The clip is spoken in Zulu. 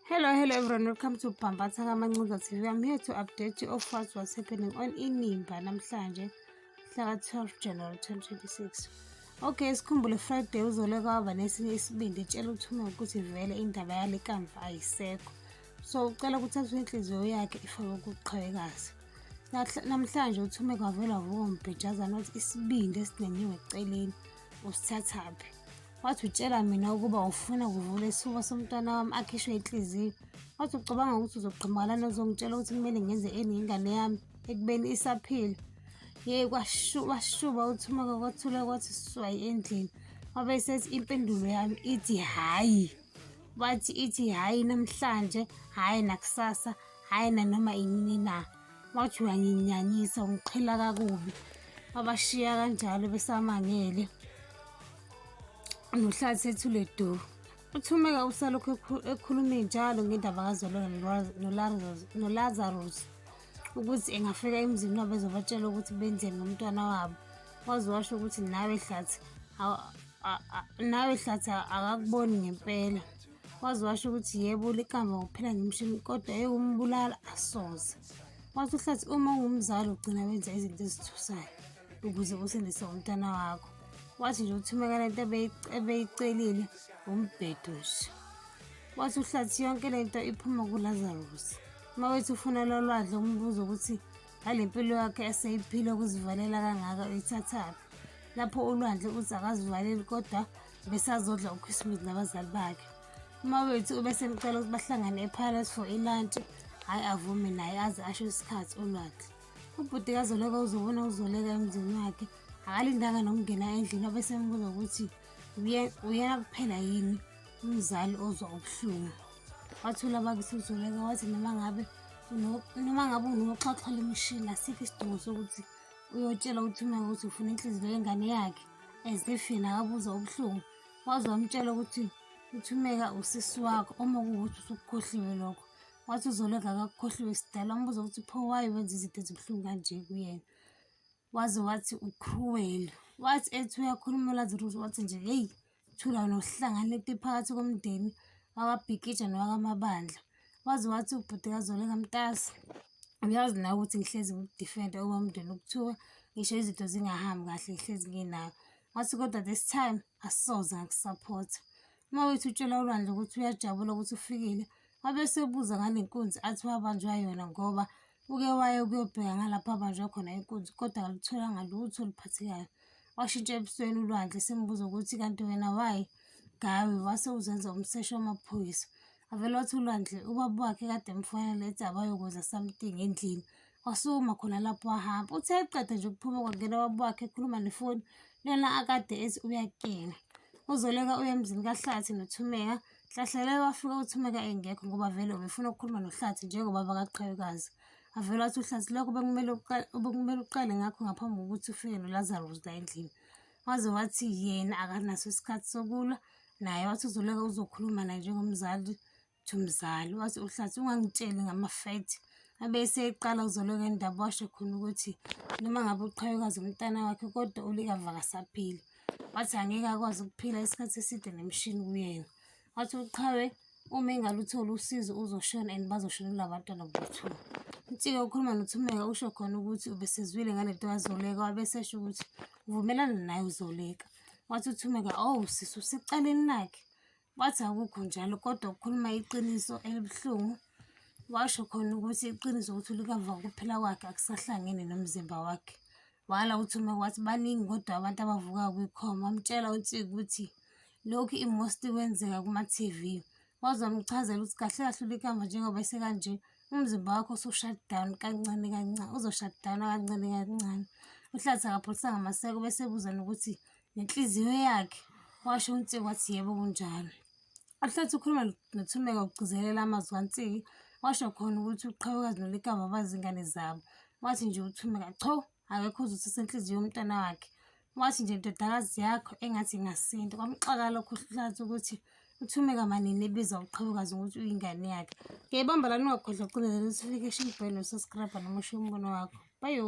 Hello, hello everyone. Welcome to Bhambatha Kamancuza TV. I'm here to update you of what was happening on Inimba namhlanje mhla 12 January 2026. Okay, sikhumbule Friday uzole kwaba nesinye isibindi etshela uthume ukuthi vele indaba yale kamva ayisekho. So ucela ukuthi athathe inhliziyo yakhe ifake ukuqhawekazi. Namhlanje uthume kwavela vuko mbhejazana ukuthi isibindi esinenyiwe eceleni usithathaphi. wathi utshela mina ukuba ufuna kuvula isifuba somntwana wami akhishwe inhliziyo wathi ucabanga ukuthi uzogqimakalani ozongitshela ukuthi kumele ngenze eni ingane yami ekubeni isaphila yeyi washuba uthumaka kwathula kwathi swayi endlini wabe esethi impendulo yami ithi hhayi wathi ithi hhayi namhlanje hhayi nakusasa hhayi nanoma inini na wathi uyanginyanyisa ungiqhela kakubi abashiya kanjalo besamangele nohlala sethule do uthumeka usalokhu ekhulume njalo ngendaba kazolona nolazarus ukuthi engafika emzini wabo ezobatshela ukuthi benzeni ngomntwana wabo waze washo ukuthi nawe hlathi nawe hlathi akakuboni ngempela waze washo ukuthi yebo liqamba ngokuphela ngemshini kodwa ewumbulala asoze wathi uhlathi uma ungumzali ugcina wenza izinto ezithusayo ukuze usindise umntana wakho wathi nje uthumeka lento ebeyicelile umbhedo nje wathi uhlathi yonke le nto iphuma kulazarus uma wethi ufuna lolwadle umbuzo ukuthi ngale mpilo yakhe eseyiphile ukuzivalela kangaka uyithathaphi lapho ulwandle uthi akazivaleli kodwa besazodla uChristmas nabazali bakhe umawethu ubesemcela ukuthi bahlangane epalace for ilantshi hhayi avume naye aze asho isikhathi olwakhe ubhuti kazoleka uzobona uzoleka emzini wakhe akalindanga nokungena endlini obesembuza ukuthi uyena kuphela yini umzali ozwa ubuhlungu wathula bakisi uzoleka wathi noma ngabe noma ngabe unoxhaxha lemishini asikho isidingo sokuthi uyotshela ukuthi uma ukuthi ufuna inhliziyo yengane yakhe as if yena akabuza ubuhlungu waze wamtshela ukuthi uthumeka usisi wakho uma kuwukuthi usukukhohliwe lokho wathi uzoleka kakukhohliwe sidala umbuza ukuthi pho waye wenza izinto ezibuhlungu kanje kuyena waze wathi ucruel wathi ethi uyakhuluma ulaziruzi wathi nje heyi Thula nohlanganeti phakathi komndeni wakabhikija nowakamabandla waze wathi ubhuti kazoleka mtasi uyazi nawe ukuthi ngihlezi ngikudifenda uma umndeni ukuthiwa ngisho izinto zingahambi kahle ngihlezi nginayo wathi kodwa this time asoze ngakusaphotha uma wethu utshela ulwandle ukuthi uyajabula ukuthi ufikile wabe esebuza ngale nkunzi athi wabanjwa yona ngoba uke waye ukuyobheka ngalapho abanjwa khona inkunzi kodwa akalitholanga lutho oluphathekayo washintsha ebusweni ulwandle simbuza ukuthi kanti wena wayi gawe wase uzenza umseshi wamaphoyisa avele wathi ulwandle ubaba wakhe kade emfonela ethi abayokwenza something endlini wasukuma khona lapho wahamba uthe eqeda nje ukuphuma kwangena baba wakhe ekhuluma nefoni lona akade ethi uyakena uzoleka uye emzini kahlathi nothumeka hlahlela wafika uthumeka engekho ngoba vele ubefuna ukukhuluma nohlathi njengoba bakaqhawekazi avele wathi uhlathi lokho bekumele bekumele uqale ngakho ngaphambi kokuthi ufike nolazarus la endlini waze wathi yena akanaso isikhathi sokulwa naye wathi uzoleka uzokhuluma naye njengomzali Uthi umzali wathi uhlathi ungangitsheli ngama-fact abe eseqala ukuzoloka indaba washo khona ukuthi noma ngabe uqhayukazi umntana wakhe kodwa ulikava kasaphili wathi angeke akwazi ukuphila isikhathi eside nemishini kuyena wathi uqhawe uma engalutholi usizo uzoshona and bazoshona kula bantwana bothula uthike ukhuluma nothumeka usho khona ukuthi ubesezwile ngale nto kazoleka wabesesho ukuthi uvumelana naye uzoleka wathi uthumeka owu oh, sisi usecaleni lakhe wathi akukho njalo kodwa ukhuluma iqiniso elibuhlungu washo khona ukuthi iqiniso ukuthi ulikava ukuphila kwakhe akusahlangene nomzimba wakhe wala uthuma wathi baningi kodwa abantu abavuka kwikhoma wamtshela uthi ukuthi lokhu imosti kwenzeka kuma-tv wazomchazela ukuthi kahle kahle ulikamba njengoba esekanje umzimba wakho usushut down kancane kancane uzoshut down kancane kancane uhlathi akapholisanga maseko bese ebuza nokuthi nenhliziyo yakhe washo uNtsiki wathi yebo kunjalo ahlethi ukhuluma nothumeka ukugcizelela amazwi kaNtsiki washo khona ukuthi uqhawekazi nolikava bazi ingane zabo wathi nje uthumeka cho akekho uzothatha inhliziyo yomntana wakhe wathi nje ndodakazi yakho engathi ingasinda kwamxaka lokho uhlathi ukuthi uthume kamanini ebiza uqhabukazi ukuthi uyingane yakhe ngiyayibamba lani ungakhohlwa ucinezela ukuthi ufike esho umbhele nosaskrabha noma usho umbono wakho bayo